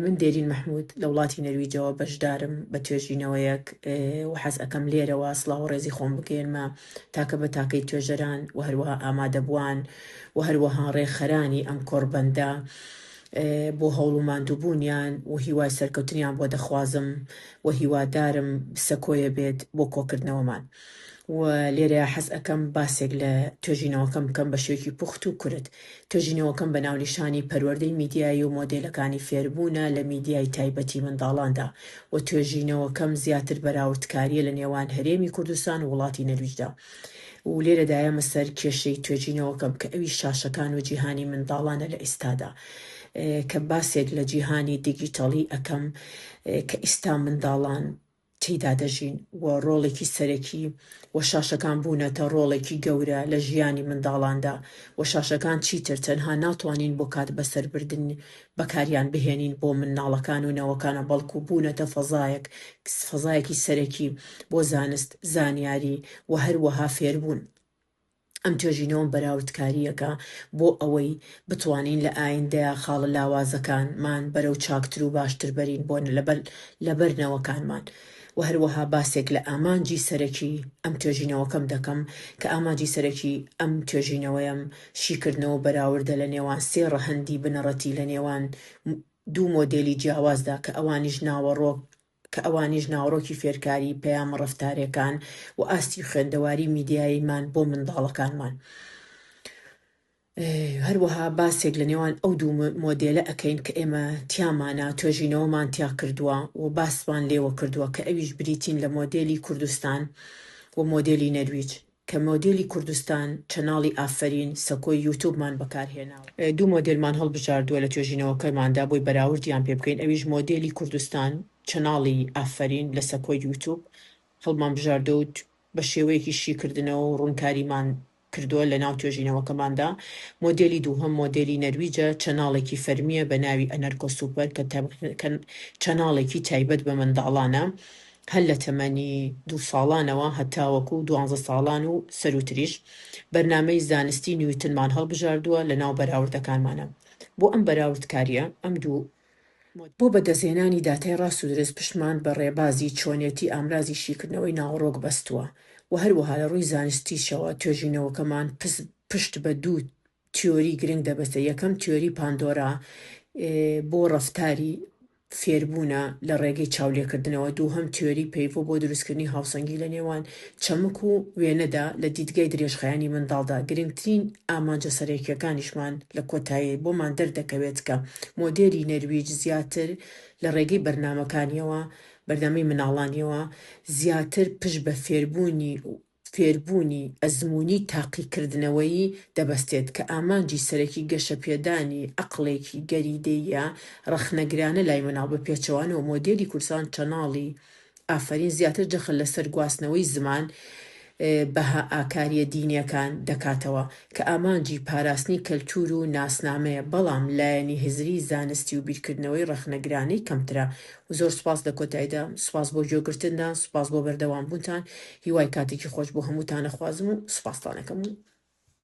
من دێرین مەحمود لە وڵاتی نەرویجەوە بەشدارم بە توێژینەوەیەک و حەز ئەکەم لێرەوە سڵاو و ڕێزی خۆم بگەێنمە تاکە بە تاکەی توێژەران و هەروەها ئامادەبووان و هەروەها ڕێکخەرانی ئەم کۆڕبەندە بۆ هەوڵ و ماندووبوونیان و هیوای سەرکەوتنیان بۆ دەخوازم و هیوادارم سەکۆیە بێت بۆ کۆکردنەوەمان. و لێرەیا حەز ئەکەم باسێک لە توێژینەوەکەم بکەم بە شێوەیەکی پوخت و کورت. توێژینەوەکەم بە ناونیشانی پەروەردەی میدیایی و مۆدێلەکانی فێربوونە لە میدیای تایبەتی منداڵاندا و توێژینەوەکەم زیاتر بەراوردکارییە لە نێوان هەرێمی کوردستان و وڵاتی نەرویجدا و لێرەدا یەمە سەر کێشەی توێژینەوەکەم کە ئەویش شاشەکان و جیهانی منداڵانە لە ئیستادا کە باسێک لە جیهانی دیگیتەڵی ئەکەم کە ئیستا منداڵان تێیدا دەژین و ڕۆڵێکی سەرەکی و شاشەکان بوونەتە ڕۆڵێکی گەورە لە ژیانی منداڵاندا و شاشەکان چیتر تەنها ناتوانین بۆ کات بەسەر بردن بەکاریان بهێنین بۆ منداڵەکان و نەوەکانە بەڵکو بوونەتە فەزایەک فەزایەکی سەرەکی بۆ زانست زانیاری و هەروەها فێربوون. ئەم توێژینەوە بەراوردکارییەکە بۆ ئەوەی بتوانین لە ئایندەیا خاڵە لاوازەکان مان بەرەو چاکتر و باشتر بەرین بۆ لەبەر نەوەکانمان و هەروەها باسێک لە ئامانجی سەرەکی ئەم توێژینەوەکەم دەکەم کە ئامانجی سەرەکی ئەم توێژینەوەیەم شیکردنەوە و بەراوردە لە نێوان سێ ڕەهەندی بنەڕەتی لە نێوان دوو مۆدێلی جیاوازدا کە ئەوانیش ناوەڕۆک کە ئەوانیش ناوەڕۆکی فێرکاری پەیامە ڕەفتارێکان و ئاستی خوێندەواری میدیاییمان بۆ منداڵەکانمان. هەروەها باسێک لە نێوان ئەو دوو مۆدێلە ئەکەین کە ئێمە تیامانە توێژینەوەمان تیا کردووە و باسمان لێوە کردووە کە ئەویش بریتین لە مۆدێلی کوردستان و مۆدێلی نەرویج. کە مۆدێلی کوردستان چەناڵی ئافەرین سەکۆی یوتوبمان بەکارهێناوە. دوو مۆدێلمان هەڵبژاردووە لە توێژینەوەکەماندا بۆی بەراوردیان پێ بکەین ئەویش مۆدێلی کوردستان چەناڵی ئافەرین لە سەکۆی یوتوب هەڵمانبژاردووە و بە شێوەیەکی شیکردنەوە و ڕوونکاریمان کردووە لە ناو توێژینەوەکەماندا. مۆدێلی دووهەم مۆدێلی نەرویجە چەناڵێکی فەرمییە بە ناوی ئەنەرکۆ سوپەر کە چەناڵێکی تایبەت بە منداڵانە هەر لە تەمەنی دوو ساڵانەوە هەتاوەکو دوانزە ساڵان و سەرووتریش بەرنامەی زانستی نیوتنمان هەڵبژاردووە لە ناو بەراوردەکانمانا بۆ ئەم بەراوردکارییە ئەم دوو بۆ بەدەستهێنانی داتای ڕاست و دروست پشتمان بە ڕێبازی چۆنێتی ئامرازی شیکردنەوەی ناوەڕۆک بەستووە و هەروەها لە ڕووی زانستیشەوە توێژینەوەکەمان پشت بە دوو تیۆری گرنگ دەبەستێت یەکەم تیۆری پاندۆرا بۆ ڕەفتاری فێربوونە لە ڕێگەی چاولێکردنەوە، دووهەم تیۆری پەیڤۆ بۆ دروستکردنی هاوسەنگی لە نێوان چەمک و وێنەدا لە دیدگای درێژخایەنی منداڵدا، گرنگترین ئامانجە سەرەکییەکانیشمان لە کۆتایی بۆمان دەردەکەوێت کە مۆدێلی نەرویج زیاتر لە ڕێگەی بەرنامەکانییەوە، بەرنامەی مناڵانییەوە، زیاتر پشت بە فێربوونی فێربوونی ئەزموونی تاقیکردنەوەیی دەبەستێت کە ئامانجی سەرەکی گەشەپێدانی عەقڵێکی گەری دێیە ڕەخنەگرانە لای منداڵ بە پێچەوانەوە مۆدێلی کوردستان چەناڵی ئافەرین زیاتر جەخت لەسەر گواستنەوەی زمان بەها ئاکاریە دینیەکان دەکاتەوە کە ئامانجی پاراستنی کەلتور و ناسنامەیە بەڵام لایەنی هزری زانستی و بیرکردنەوەی ڕەخنەگرانەی کەمترە زۆر سوپاس لە کۆتایدا سوپاس بۆ گوێ گرتندا سوپاس بۆ بەردەوام بوونتان هیوای کاتێکی خۆش بۆ هەمووتان ئەخوازم و سوپاستان ئەکەم و.